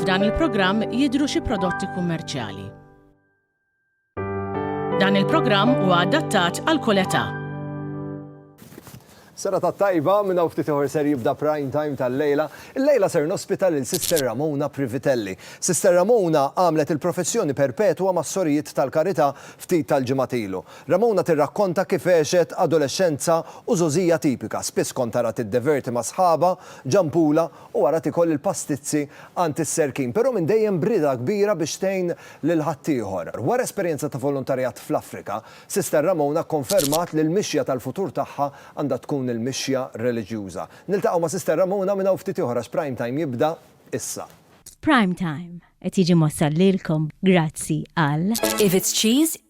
F'dan il-programm jidhru xi prodotti kummerċjali. Dan il-programm huwa adattat għal kull età. Sera ta' tajba minn hawn ftit ieħor ser jibda prime time tal-lejla. Il-lejla ser nospita lil Sister Ramona Privitelli. Sister Ramona għamlet il-professjoni perpetwa mas-sorijiet tal-karità ftit tal-ġimgħat ilu. Ramona tirrakkonta kif għexet adolexxenza u żgħożija tipika, spiss kont arha tiddeverti ma' sħabha, Ġampula, u ara tikol il-pastizzi għand is-serkin, però minn dejjem b'rieda kbira biex tgħin lil ħaddieħor. Wara esperjenza ta' volontarjat fl-Afrika, Sister Ramona kkonfermat li l-mixja tal-futur tagħha għandha tkun il-mixja reliġjuża. Niltaqgħu ma' Sister Ramona minn hawn ftit ieħor għax Prime Time jibda issa. Prime Time qed jiġi mwassal lilkom grazzi għal. If it's cheese,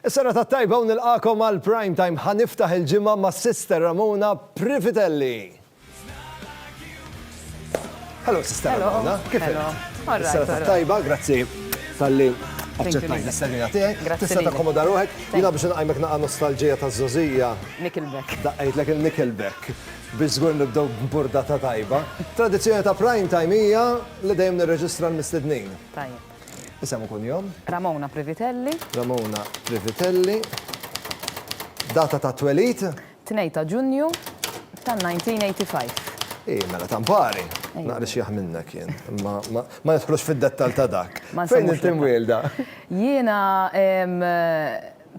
Is-serata t-tajba u nilqagħkom għal Prime Time. Ħa niftaħ il-ġimgħa ma' Sister Ramona Privitelli. Hello Sister Ramona, kif inti? Is-serata t-tajba, grazzi tal-li aċċettajt is-serija tiegħi. Tista' takkomoda ruħek, jiena biex inqajmek naqa' nostalġija ta' żożija. Nickelback. Daqqajtlek il-Nickelback. Biex żgur nibdew b'burdata tajba. Tradizzjoni ta' Prime Time hija li dejjem nirreġistra l-mistednin. Tajjeb. Isem u kunjom? Ramona Privitelli. Ramona Privitelli. Data ta' twelid? 2 ta' Ġunju ta' 1985. Ih, mela ta' mpari. Naqri xi jaħ minnek jien. Imma ma nidħlux fid-dettall ta' dak. Fejn int imwielda? Jiena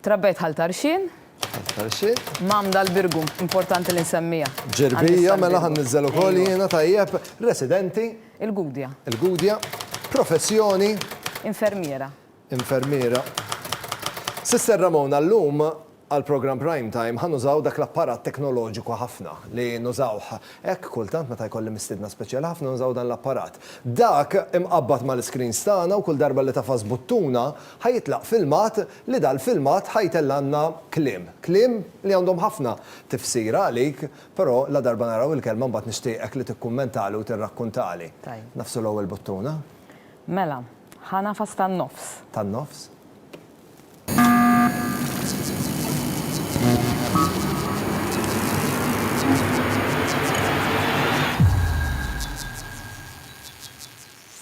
trabbejt Ħal Tarxien. Ħal Tarxien. M'għamda l-Birgu, importanti li nsemmiha. Ġirbija, mela ħa nniżżel ukoll jiena, tajjeb. Residenti? Il-Gudja. Il-Gudja. Professjoni. Infermiera. Infermiera. Sister Ramona, llum għall-programm Prime Time ħa nużaw dak l-apparat teknoloġiku ħafna li nużawh hekk kultant meta jkolli mistiedna speċjali ħafna nużaw dan l-apparat. Dak imqabbad mal-iscreens tagħna u kull darba li tagħfas buttuna ħa jitlaq filmat li dal-filmat ħa jtellgħalna kliem. Kliem li għandhom ħafna tifsira għalik Però ladarba naraw il-kelma mbagħad nixtieqek li tikkummentali u tirrakkuntali. Tajjeb. Nagħfsu l-ewwel buttuna. Mela, ħa nagħfas tan-nofs. Tan-nofs.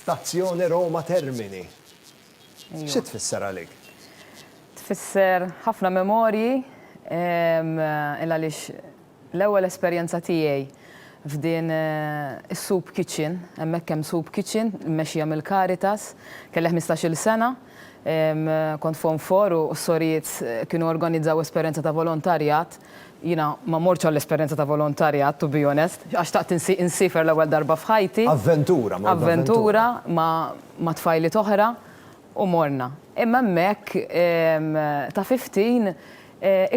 Stazzjoni Roma Termini. Xi tfisser għalik? Tfisser ħafna memorji il għaliex l-ewwel esperjenza tiegħi f'din eh, is-soup kitchen, hemmhekk hemm soup kitchen, mmexxija mill-Caritas, kelli 15-il sena, kont fon for u s-sorijiet eh, kienu organizzaw esperjenza ta' volontarjat. Jina ma morċ għall-esperjenza ta' volontarjat, to be honest, għax taqt insifer l-ewwel darba f'ħajti. Avventura, ma Avventura, ma ma' tfajliet oħra u morna. Imma hemmhekk ta' fifteen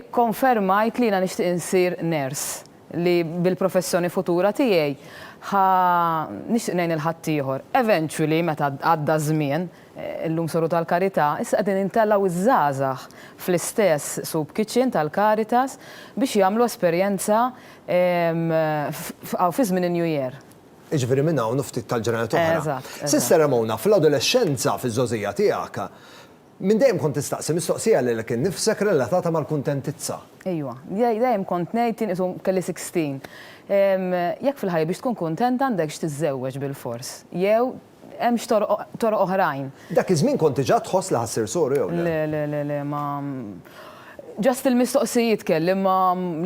ikkonfermajt li jiena nixtieq insir nurse, li bil-professjoni futura tiegħi ħa nixtieq ngħin lil ħaddieħor. Eventually meta għadda ż-żmien, illum soru tal-karità, issa qegħdin intelgħu ż-żgħażagħ fl-istess soup kitchen tal-Caritas biex jagħmlu esperjenza fi żmien in-New Year. Jiġifieri minn hawn u ftit tal-ġranet oħra. Eżatt, eżatt. Sister Ramona, fl-adolexxenza, fiż-żgħożija tiegħek, minn dejjem kont tistaqsi mistoqsija lilek innifsek relatata mal-kuntentizza. Ejwa. Jien dejjem kont ngħid, jien qisu kelli sixteen, jekk fil-ħajja biex tkun kuntent għandekx tiżżewweġ bilfors jew Hemmx toroq oħrajn. Dak iż-żmien kont diġà tħoss li ħa ssir soru jew le? Le, le, le, le, ma. Just il-mistoqsijiet kelli imma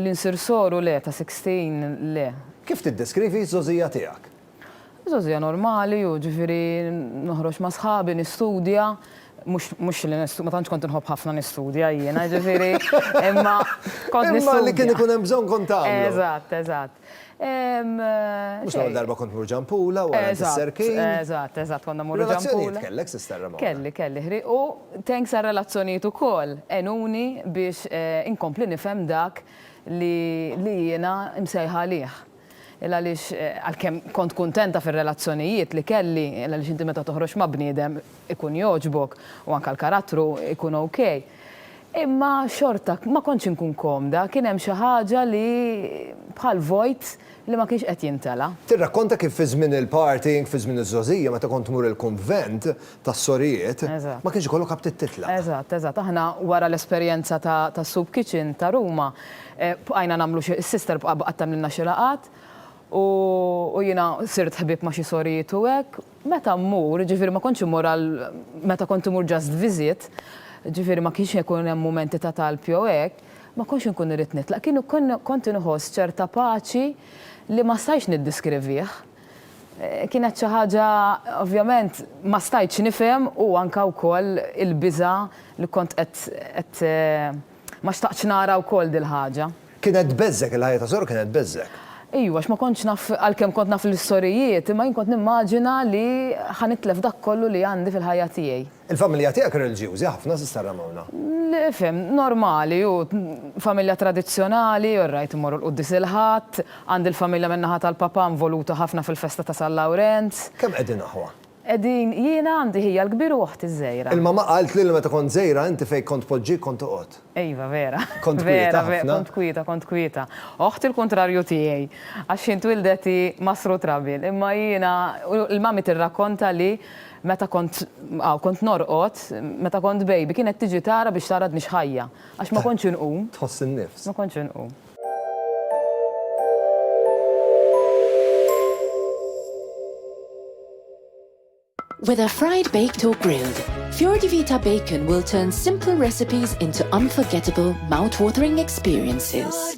li nsir soru le, ta' sixteen le. Kif tiddeskrivi ż-żgħożija tiegħek? Żgħożija normali, jiġifieri noħroġ ma' sħabi, nistudja, mhux mhux li ma tantx kont inħobb ħafna nistudja jiena, jiġifieri imma kont nistudja. Imma li kien ikun hemm bżonn kont tagħmlu. Eżatt, eżatt. Mhux l-ewwel darba kont mur Ġampula wara s-serkin. Eżatt, eżatt, konna mmorru Ġampula. Relazzjonijiet kellek, Sister Ramona? Kelli, kelli, ħriq u thanks għar-relazzjonijiet ukoll għenuni biex inkompli nifhem dak li jiena msejħa għalih. Għaliex għalkemm kont kuntenta fir-relazzjonijiet li kelli, għaliex inti meta toħroġ ma' bniedem ikun jogħġbok u anke l-karattru jkun ok. Imma xorta ma kontx inkun komda, kien hemm xi ħaġa li bħal vojt li ma kienx qed jimtela. Tirrakkonta kif fi żmien il-party, fi żmien iż-żgħożija meta kont tmur il-kunvent tas-sorijiet, ma kienx ikollok aptit titlaq. Eżatt, eżatt. Aħna wara l-esperjenza tas-soup kitchen ta' Ruma, bqajna nagħmlu xi, is-sister bqgħet tagħmlilna xi laqgħat u jiena sirt ħbieb ma' xi sorijiet u hekk. Meta mmur, ġifieri ma kontx immur għal meta kont imur just visit, ġifieri ma kienx ikun hemm mumenti ta' talb jew hekk, ma kontx inkun irrid nitlaq. Kien ikun kont inħoss ċerta paċi li ma stajtx niddiskrivih. Kienet xi ħaġa ovvjament ma stajtx nifhem u anke wkoll il-biża' li kont qed qed Ma xtaqtx nara wkoll dil-ħaġa. Kienet tbeżżgħek, il-ħajja ta' Sor kienet tbeżżgħek? Ejwa, għax ma kontx naf, għalkemm kont naf l-istorijiet, imma jien kont nimmaġina li ħa nitlef dak kollu li għandi fil-ħajja tiegħi. Il-familja tiegħek reliġjużi ħafna, Sister Ramona? Fhem, normali, hu familja tradizzjonali, all right, immorru l-Quddies il-Ħadd, għandi l-familja min-naħa tal-papà involuta ħafna fil-festa ta' San Lawrenz. Kemm qegħdin aħwa? Qegħdin jiena għandi ħija l-kbir u oħti ż-żgħira. Il-mamma qaltli li meta kont żgħira inti fejn kont tpoġġik kont toqgħod. Iva vera. Kont kwieta ħafna. Kont kwieta, kont kwieta. Oħti l-kuntrarju tiegħi għax hi ntwieldet hi masru trabil imma jiena l-mami tirrakkonta li meta kont aw kont norqod meta kont baby kienet tiġi tara biex tara għadnix ħajja għax ma kontx inqum. Tħoss in-nifs. Ma kontx inqum. Whether fried, baked or grilled, Fjordivita bacon will turn simple recipes into unforgettable, mouth-watering experiences.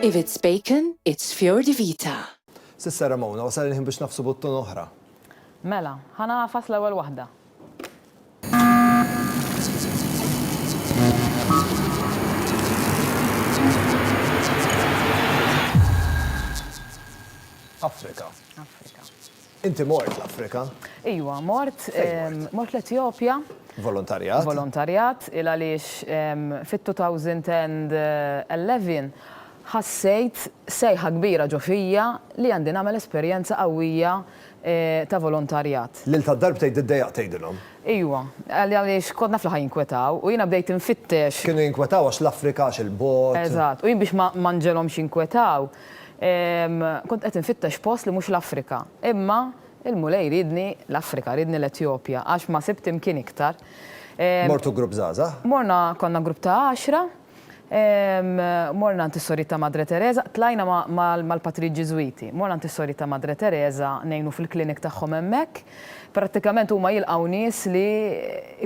If it's bacon, it's Fjordivita. Sissa Ramona, wasal il-ħin biex nafsu buttun oħra. Mela, ħa nagħfas l-ewwel waħda. Afrika. Inti mort l-Afrika? Iwa, mort, mort l-Etjopja. Volontarjat? Volontarjat, il għaliex fit-2011 ħassejt sejħa kbira ġo fija li għandi nagħmel esperjenza qawwija ta' volontarjat. Lil ta' darb tgħid iddejjaqt tgħidilhom. Ijwa. Għaliex kont naf li ħa jinkwetaw u jiena bdejt infittex. Kienu jinkwetaw għax l-Afrika għax il-bogħod. Eżatt. U jien biex ma nġegħlhomx jinkwetaw kont qed infittex post li mhux l-Afrika. Imma l-Mulej riedni l-Afrika, riedni l-Etjopja għax ma sibt imkien iktar. Mortu grupp żgħażagħ? Morna konna grupp ta' għaxra. Morna għand is-Sorita Madre Teresa, tlajna mal-Patri Ġiżwiti. Morna għand is-Sorita Madre Teresa ngħinu fil-clinic tagħhom hemmhekk. Prattikament huma jilqgħu nies li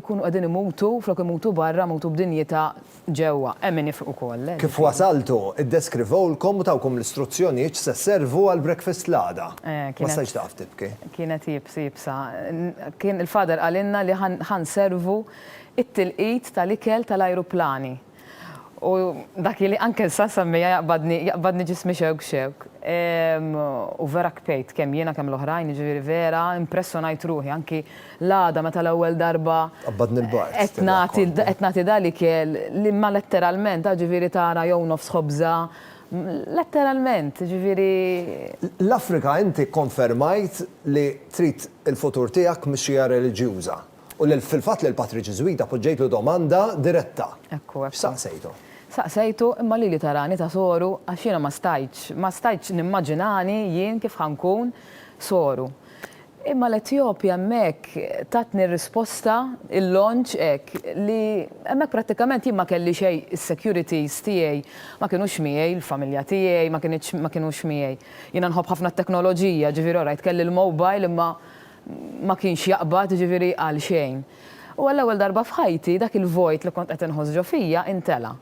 jkunu qegħdin imutu, flok imutu barra, imutu b'dinjità ġewwa. Hemm min jifriq ukoll, le? Kif wasaltu, iddeskrivewlkom u tawkom l-istruzzjonijiet x'se sservu għall-breakfast l-għada. Ma stajtx taqaf tibki. Kienet iebsa. Il-Father qalilna li ħa nservu it-tilqit tal-ikel tal-ajruplani u dak li anke sa nsemmija jaqbadni jaqbadni ġismi xewk xewk. Ehm u vera kpejt kemm jiena kemm l-oħrajn jiġifieri vera impressjonajt ruħi anki l-għada meta l-ewwel darba Tqabbadni l-bard. qed nagħti qed nagħti da l-ikel li ma letteralment a ġifieri tara jew nofs ħobża letteralment jiġifieri. L-Afrika inti kkonfermajt li trid il-futur tiegħek mixija reliġjuża. U lil fil-fatt lil patri Ġiżwita poġġejtlu domanda diretta. Ekku, ekku. X'saqsejtu? Saqsejtu, imma lili tarani ta' soru għax jiena ma stajtx, ma stajtx nimmaġinani jien kif ħa nkun soru. Imma l-Etjopja hemmhekk tatni risposta il-launch hekk li hemmhekk prattikament jien ma kelli xejn is-securities tiegħi ma kinux miegħi, il-familja tiegħi ma kinitx ma kinux miegħi. Jiena nħobb ħafna t-teknoloġija, ġifieri alright kelli l-mobile imma ma kienx jaqbad, jiġifieri qal xejn. U għall-ewwel darba f'ħajti dak il-vojt li kont qed inħoss ġo fija intela'.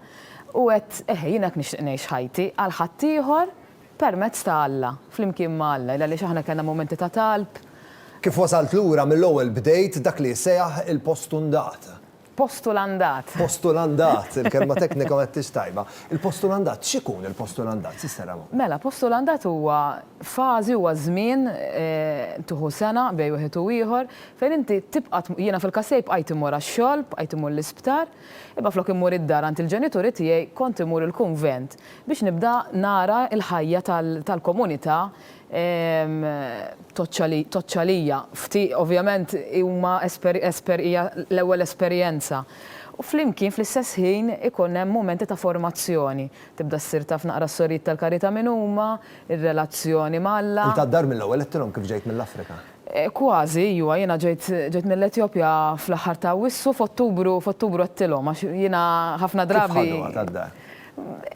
U għedt, eħe, jiena hekk nixtieq ngħix ħajti, għal ħaddieħor, permezz ta' Alla, flimkien ma' Alla, għaliex aħna kellna mumenti ta' talb. Kif wasalt lura mill-ewwel bdejt dak li jsejaħ il-postundata. Postulandat. Postulandat, il-kelma teknika ma għedtix tajba. Il-postulandat, x'ikun il-postulandat, Sister Ramon? Mela, postulandat huwa fażi, huwa żmien, tieħu sena bejn wieħed u ieħor, fejn inti tibqa' tmur, jiena fil-każ tiegħi bqajt immur għax-xogħol, bqajt immur l-isptar, imma flok immur id-dar għand il-ġenituri tiegħi kont immur il-kunvent biex nibda nara l-ħajja tal-komunità Toċċa lija. Ovvjament huma hija l-ewwel esperjenza. U flimkien fl-istess ħin ikun hemm mumenti ta' formazzjoni. Tibda ssir taf naqra s-sorijiet tal-karità min huma, ir-relazzjoni ma' Alla. Int għad-dar mill-ewwel għedtilhom kif ġejt mill-Afrika? Kważi, ejwa. Jiena ġejt mill-Etjopja fl-aħħar ta' Awwissu, f'Ottubru għedtilhom għax jiena ħafna drabi. Kif ħaduha tad-dar?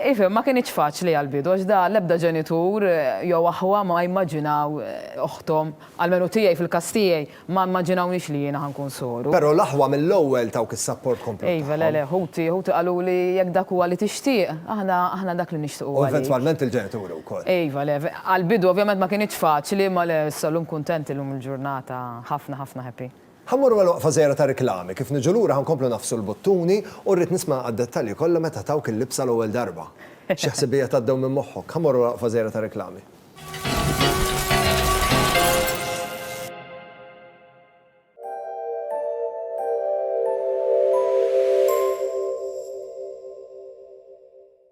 Ifhem, ma kinitx faċli għall-bidu għax da l-ebda ġenitur jew aħwa ma jmaġinaw oħthom, almenu tiegħi fil-każ tiegħi, ma mmaġinawniex li jiena ħa nkun soru. Però l-aħwa mill-ewwel tawk is-sapport komplut tagħhom. Iva, le, le, ħuti, ħuti qaluli jekk dak huwa li tixtieq, aħna, aħna dak li nixtiequ għalik. U eventwalment il-ġenituri wkoll. Iva, le, għall-bidu ovvjament ma kinitx faċli imma le, issa llum kuntent illum il-ġurnata ħafna, ħafna happy. Ħa mmorru għal waqfa żgħira ta' riklami, kif niġu lura ħa nkomplu ngħaffsu l-buttuni u rrid nisma' għad-dettalji kollha meta tawk il-libsa l-ewwel darba. Xi ħsibijiet għaddew minn moħħok? Ħa mmorru għal waqfa żgħira ta' riklami.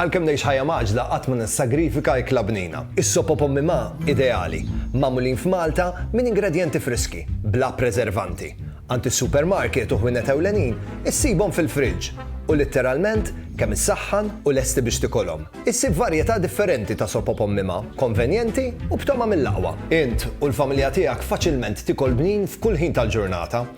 Għalkemm ngħix ħajja mgħaġġla qatt ma nissagrifika ikla bnina. Is-sop o pommi ma' ideali, magħmulin f'Malta minn ingredjenti friski, bla preservanti. Għand is-supermarket u ħwienet ewlenin issibhom fil-friġġ u litteralment kemm issaħħan u lesti biex tikolhom. Issib varjetà differenti ta' sop o pommi ma', konvenjenti u b'togħma mill-aqwa. Int u l-familja tiegħek faċilment tikol bnin f'kull ħin tal-ġurnata.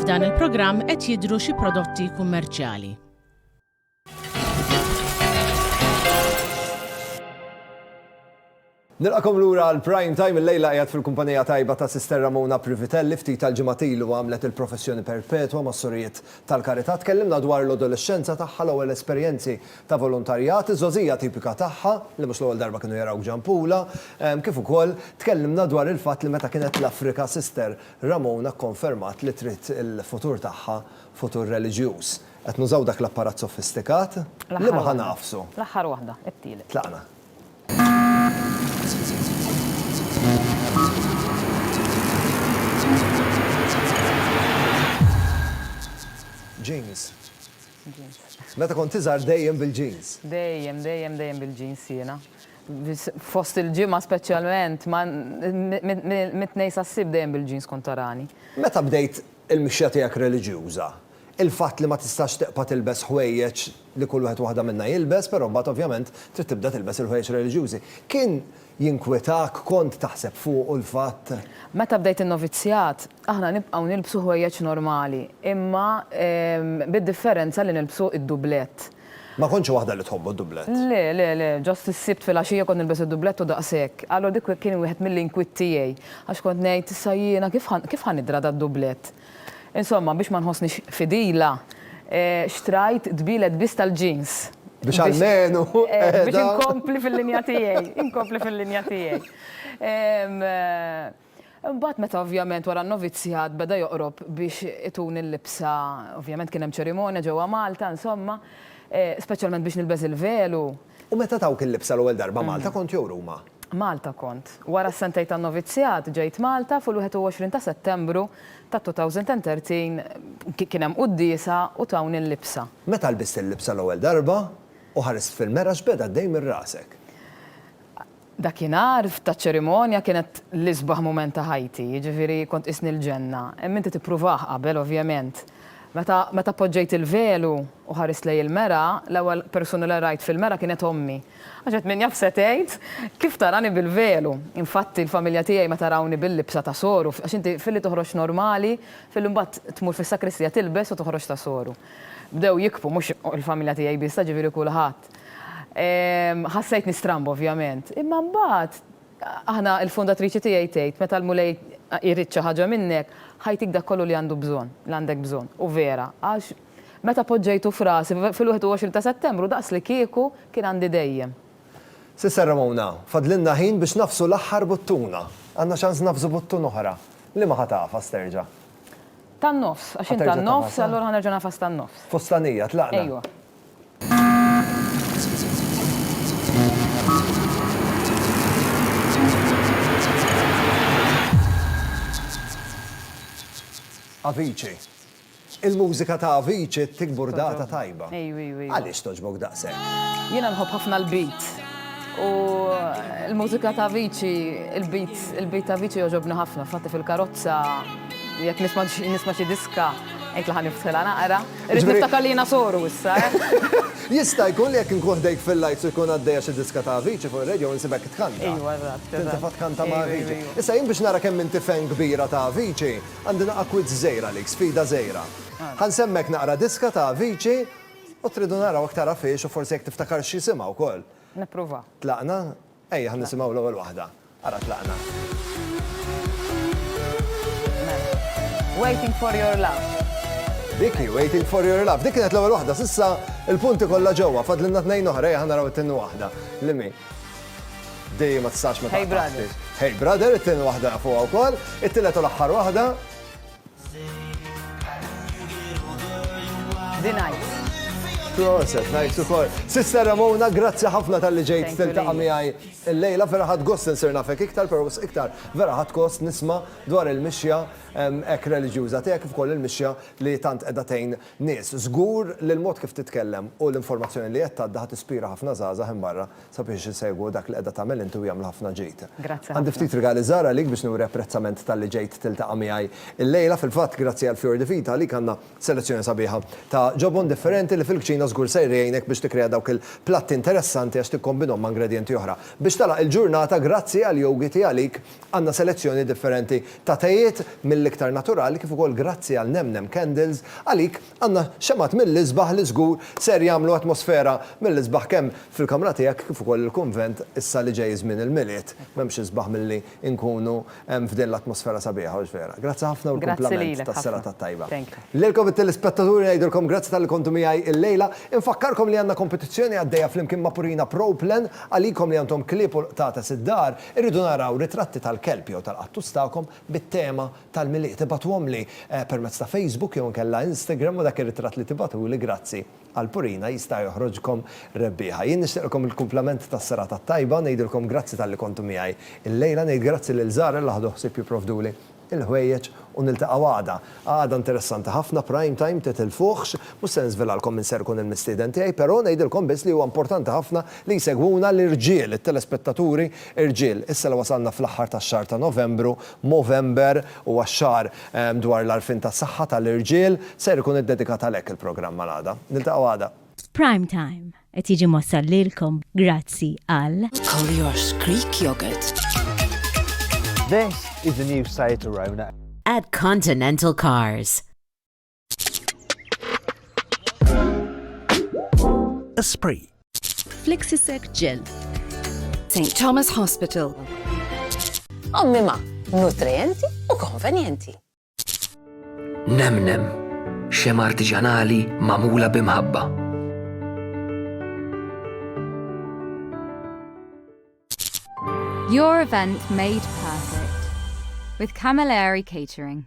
F'dan il-programm qed jidhru xi prodotti kummerċjali. Nilqakom lura għal Prime Time il-lejla qiegħed fil-kumpanija tajba ta' Sister Ramona Privitelli ftit tal-ġimgħat ilu għamlet il-professjoni perpetwa mas-Sorijiet tal-Karità. Tkellimna dwar l-adolexxenza tagħha l-ewwel esperjenzi ta' volontarjat, iż-żgħożija tipika tagħha, li mhux l-ewwel darba kienu jarawk ġampula, kif ukoll tkellimna dwar il-fatt li meta kienet l-Afrika Sister Ramona kkonfermat li trid il-futur tagħha futur reliġjuż. Qed nużaw dak l-apparat sofistikat? Liema ħa ngħafsu? L-aħħar waħda, it-tielet. Tlaqna. James. Meta kont iżgħar dejjem bil-jeans. Dejjem, dejjem, dejjem bil-jeans jiena. Fost il-ġimgħa speċjalment, ma mit-Tnejn sas-Sibt dejjem bil-jeans kont tarani. Meta bdejt il-mixja tiegħek reliġjuża, il-fatt li ma tistax tiqpa' tilbes ħwejjeġ li kull wieħed waħda minna jilbes, però mbagħad ovvjament trid tibda tilbes il-ħwejjeġ reliġjużi, kien Jinkwetak kont taħseb fuqu l-fatt? Meta bdejt in-novizzjat, aħna nibqgħu nilbsu ħwejjeġ normali, imma bid-differenza li nilbsu d-dublett. Ma kontx waħda li tħobbu d-dublett? Le, le, le, ġost is-Sibt filgħaxija kont nilbes id-dublett u daqshekk. Allura dik kien wieħed mill-inkwiet tiegħi, għax kont ngħid, issa jiena kif ħa nidra dad-dublett? Insomma, biex ma nħossnix fidila, xtrajt dbielet biss tal-jeans. Biex almenu qiegħda. Biex inkompli fil-linja tiegħi, inkompli fil-linja tiegħi. Imbagħad meta ovvjament wara n-novizzjat beda joqrob biex ituni l-libsa, ovvjament kien hemm ċerimonja ġewwa Malta, insomma, speċjalment biex nilbes il-velu, U meta tawk il-libsa l-ewwel darba Malta kont jew Ruma? Malta kont. Wara s-sentejn tan-novizzjat ġejt Malta fu l-21 ta' Settembru ta' 2013 kien hemm quddiesa u tawni l-libsa. Meta lbist il-libsa l-ewwel darba u ħarist fil-mera x'beda għaddej minn rasek? Dakinhar taċ-ċerimonja kienet l-isbaħ mument ta' ħajti, jiġifieri kont qisni l-ġenna. Hemm inti tippruvah qabel ovvjament. Meta meta poġġejt il-velu u ħarist lejn il-mera, l-ewwel persuna li rajt fil-mera kienet ommi. Għax qed min jaf se tgħid, kif tarani bil-velu? Infatti l-familja tiegħi meta rawni bil-libsa ta' soru, għax inti filli toħroġ normali, filli mbagħad tmur fis-sakristija tilbes u toħroġ ta' soru. Bdew jikbu, mhux il-familja tiegħi biss, jiġifieri kulħadd. Eżatt. Ħassejtni stramba ovvjament. Imma mbagħad, aħna, il-fundatriċi tiegħi tgħid, meta l-Mulej jrid xi ħaġa minnek, ħajtik dak kollu li għandu bżonn, li għandek bżonn. U vera, għax meta poġġejtu f'rasi fil-21 ta' Settembru daqslikieku kien għandi dejjem. Sister Ramona, fadlilna ħin biex nagħfsu l-aħħar buttuna. Għandna ċans nagħfsu buttun oħra. Liema ħa tagħfas terġa'? Tan-nofs, għax int tan-nofs, allura ħa nerġa' nagħfas tan-nofs. Fustanija, tlaqna? Ejwa. Avicii. Il-mużika ta' Avicii ttik burdata tajba. Għaliex togħġbok daqshekk? Jiena nħobb ħafna l-beat. U l-mużika ta' Avicii, il-beat, il-beat ta' Avicii jogħġobni ħafna. Infatti fil-karozza jekk nisma' xi diska, ngħid li ħa niftħilha naqra. Irrid niftakar li jiena soru issa, eh! Jista' jkun li jekk inkun ħdejk fil-lights u jkun għaddejja xi diska ta' Avicii fuq ir-radio insibek tkanta. Ejwa, eżatt, eżatt. Tintefa' tkanta ma' Avicii. Issa jien biex nara kemm inti fan kbira ta' Avicii, għandi naqgħa quiz żgħir għalik, sfida żgħira. Ħa nsemmek naqra diska ta' Avicii u tridu naraw jekk tarafhiex u forsi jekk tiftakarx x'jisimha wkoll. Nipprova. Tlaqna? Ejja ħa nisimgħu l-ewwel waħda. Ara tlaqna. Waiting for your love. Dik hi Waiting for your love. Dik kienet l-ewwel waħda. S'issa il-punti kollha ġewwa. Fadlilna tnejn oħra. Ejja ħa naraw it-tieni waħda. Li min? Dejjem ma tistax ma Hey brother. Hey brother, it-tieni waħda nafuha wkoll. It-tielet u l-aħħar waħda. Proset, najtu kol. Sister Ramona, grazzi ħafna tal-li ġejt tiltaqa miħaj il-lejla, vera ħad gost nsir nafek iktar, pero s iktar vera ħad kost nisma dwar il-mixja ek religjuza tijak kif kol il-mixja li tant edatejn nis. Zgur li l-mod kif titkellem u l-informazzjoni li jett għadda ħat ispira ħafna zaza barra Sabiex insegwu dak li qiegħda tagħmel inti u jagħmlu ħafna ġid. Grazzi Għandi ħafna. ftit rigali żgħar għalik biex nuri apprezzament talli ġejt tiltaqa' miegħi illejla. Fil-fatt, grazzi għal Fior di Vita għalik għandna selezzjoni sabiħa ta' ġobon differenti li fil-kċina żgur ser jgħinek biex tikkrea dawk il-platti interessanti għax tikkombinhom ma' ingredjenti oħra. Biex tagħlaq il-ġurnata, grazzi għal Yogiti għalik għandna selezzjoni differenti ta' tejiet mill-iktar naturali kif ukoll grazzi għal Nem Nem Candles għalik Għandna xemgħat mill-isbaħ li żgur ser jagħmlu atmosfera mill-isbaħ kemm fil-kamra tiegħek kif ukoll il-kunvent issa li ġej żmien il-Milied. M'hemmx isbaħ milli nkunu f'din l-atmosfera sabiħa hux vera? Grazzi ħafna u l-kumplament tas-serata t-tajba. Lilkom it-telespettaturi ngħidilkom grazzi talli kontu miegħi illejla. Infakkarkom li għandna kompetizzjoni għaddejja flimkien ma' Purina Pro Plan. Għalikom li għandhom klieb u l-qtates id-dar, irridu naraw ritratti tal-kelb jew tal-qattus tagħkom bit-tema tal-Milied. Ibagħtuhomli permezz ta' Facebook jew inkella Instagram u dak ir-ritratt li tibagħtuli grazzi għal Purina jista' joħroġkom rebbieħa. Jien nixtieqlkom il-kumplament tas-serata t-tajba u ngħidilkom grazzi talli kontu miegħi illejla. Ngħid grazzi lil Zahra li ħadu ħsieb jipprovduli l-ħwejjeġ u niltaqgħu għada. Għada interessanti ħafna, prime time, titilfuhx. Mhux se niżvelalkom min ser ikun il-mistieden tiegħi, però ngħidilkom biss li huwa importanti ħafna li jsegwuna l-irġiel, it-telespettaturi, Irġiel, issa li wasalna fl-aħħar tax-xahar ta' Novembru, Movember, huwa x-xahar dwar l-għarfien tas-saħħa tal-irġiel, ser ikun iddedikat għalhekk il-programm għal-għada. Niltaqgħu għada. Prime Time qed jiġi mwassal lilkom grazzi għal. Collier's Greek Yogurt. This is the new Seat Arona. At Continental Cars. Esprit. Flexisec Gel. St. Thomas Hospital. Ommima, nutrienti u konvenjenti. Nemnem, xem artiġanali mamula bimħabba. Your event made perfect with Camilleri Catering.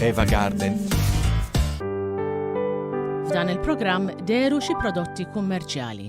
Eva Garden. F'dan il-programm deru xi prodotti kummerċjali.